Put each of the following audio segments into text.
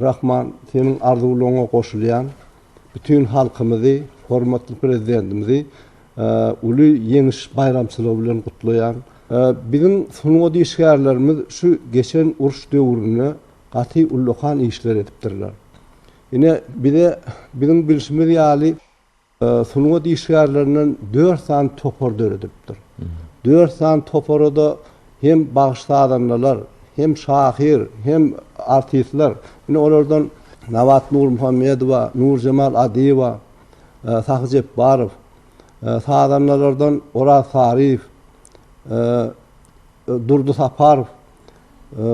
Rahman seniň arzuwlaryňa goşulýan bütin halkymyzy hormatly prezidentimizi uly ýeňiş baýramçylygy bilen gutlaýan. Biziň sungat işgärlerimiz şu geçen uruş döwründe gaty ullakan işler edipdirler. Ine bize biziň bilşimiz ýaly. sungat işgärlerinden dört sany topar döredipdir. Dört sany topara-da hem bagyş-sazandalar, hem şahyr, hem artistler. Ine, olardan Nabat Nurmuhammedowa, Nurjemal Adyýewa, Sahy Jepbarow, sazandalardan Oraz Saryýew, Durdy Saparow,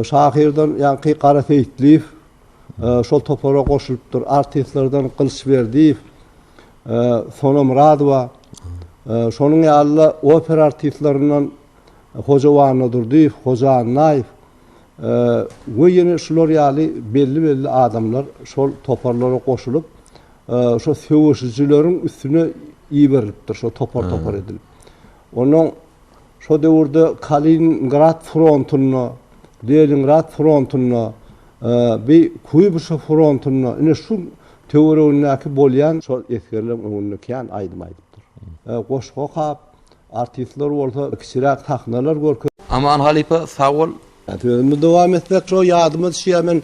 şahyrdan ýaňky Gara Seýitliýew şol topara goşulypdyr, artistlerden Gylyç Berdiýew, Sona Myradowa, şonuň ýaly-da opera artistlerininden Hoja Wannadurdyýew, Hoja Annaýew we ýene şular ýaly belli-belli adamlar şol toparlara goşulyp, şo söweşijileriň üstüne iberilipdir, şo topar-topar edilip. Onnoň Şo döwürde Kaliningrad frontunda, Leningrad frontunda, bi Kuýbyşew frontunda, ine şu töweregindäki bolýan şol esgerleň öňünde kän aýdym aýdypdyr. Goşgy okap, artistler bolsa kiçiräk sahnalar görkezip. Aman halypa sag bol Sözümi dowam etsek şo ýadyma düşýär men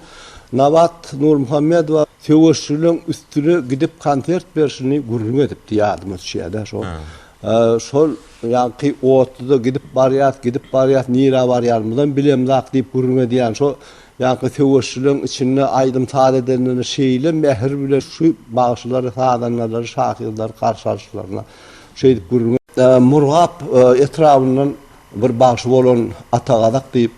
Nabat Nurmuhammedowa söweşçileriň üstüne gidip konsert berşini gürrüň edipdi ýadyma düşýärde şo. Şol ýaňky otluda gidip barýas gidip barýas nirä barýarymyzam bilemzak diýip gürrüň edýän şo ýaňky söweşçileriň içinde aýdym saz edenlerine şeýle mähir bilen şu bagşylary sazandalary şahyrlary garşy alyşlaryna şeýdip gürrüň Murgap etrabyndan Bir bagşy bolan Atagazak diýip,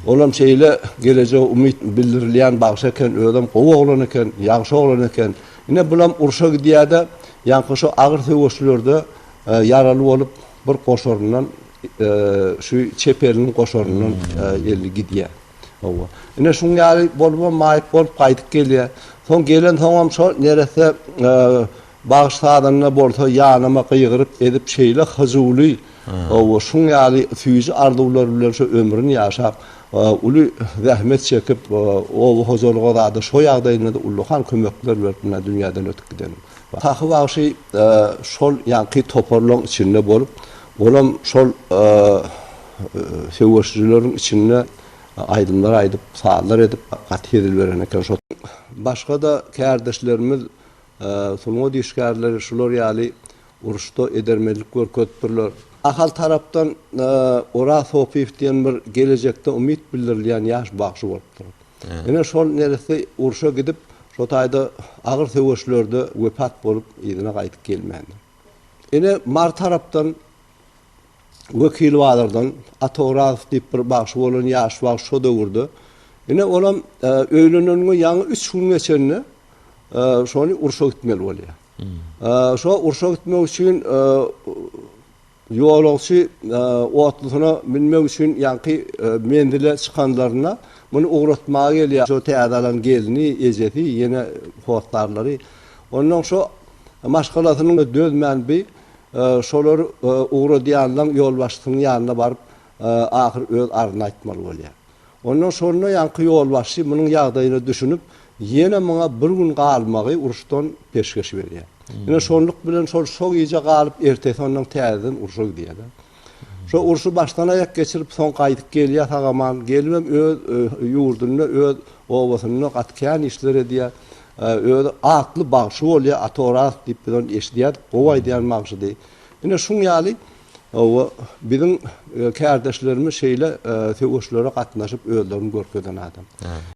olam şeýle gelejege umyt bildirilýän bagşy eken, özem gowy oglan eken, ýagşy oglan eken. Ine, bulam urşa gidýär-de, ýaňky şu agyr söweşlerde ýaraly bolup, bir goşaryndan, şu çep eliniň goşaryndan eli gidýär. Hawa. Ine, şuň ýaly bolubam maýyp bolup gaýdyp gelýär. Soň gelensoňam şo neresse Bagyş sazanda bolsa ýanyma gygyryp edip şeýle hyjuwly we şuň ýaly süýji arzuwlar bilen şu ömrüni ýaşap, uly zähmet çekip, oba hojalyga zada şo ýagdaýynda-da ullakan kömekler berip mundan dünýäden ötüp giden. Sahy bagşy şol ýaňky toparlaryň içinde bolup, olam şol söweşijileriň içinde aýdymlar aýdyp, sazlar edip gaty hezil beren eken. Başga-da kärdeşlerimiz Sungat işgärleri şular ýaly uruşda edermenlik görkezipdirler. Ahal tarapdan Oraz Hopyýew diýen bir gelejekde umyt bildirilýän ýaş bagşy bolupdyr. Ine, şol neresi urşa gidip, şo taýda agyr söweşlerde wepat bolup, yzyna gaýdyp gelmändir. Ine, Mary tarapdan Wekil bazardan Ata Orazow diýip bir bagşy bolan ýaş bagşy şo döwürde. Ine olam öýleneniňe ýaňy üç gün geçende şony urşa gitmeli bolýar. Şo urşa gitmek üçin ýolagçy otlusyna münmek üçin ýaňky menzile çykanlarynda muny ugratmaga gelýär. Şo täze alan gelni, ejesi, ýene hossarlary. Ondan şo maşgalasynyň dözmän bi Şolar ugradýanlaň ýolbaşçysynyň ýanyna baryp, ahyr öz arzyny aýtmaly bolýar. Ondan şonda ýaňky ýolbaşçy munuň ýagdaýyna düşünip, ýene muňa bir gün galmagy uruşdan peşgeş berýär. Ine, şonluk bilen şol şo gije galyp, ertesi ondan täzeden urşa gidýär-de. Şo urşy başdan aýak geçirip soň gaýdyp gelýä sagaman gelibem öz ýurdunda öz obasynda gaty kän işler edýä özi atly bagşy bolýa atoraz diýip biz ony eşidýädik gowy aýdýan bagşydy ine şuň ýaly oba biziň kärdeşlerimiz şeýle söweşlere gatnaşyp özlerini görkezen adam.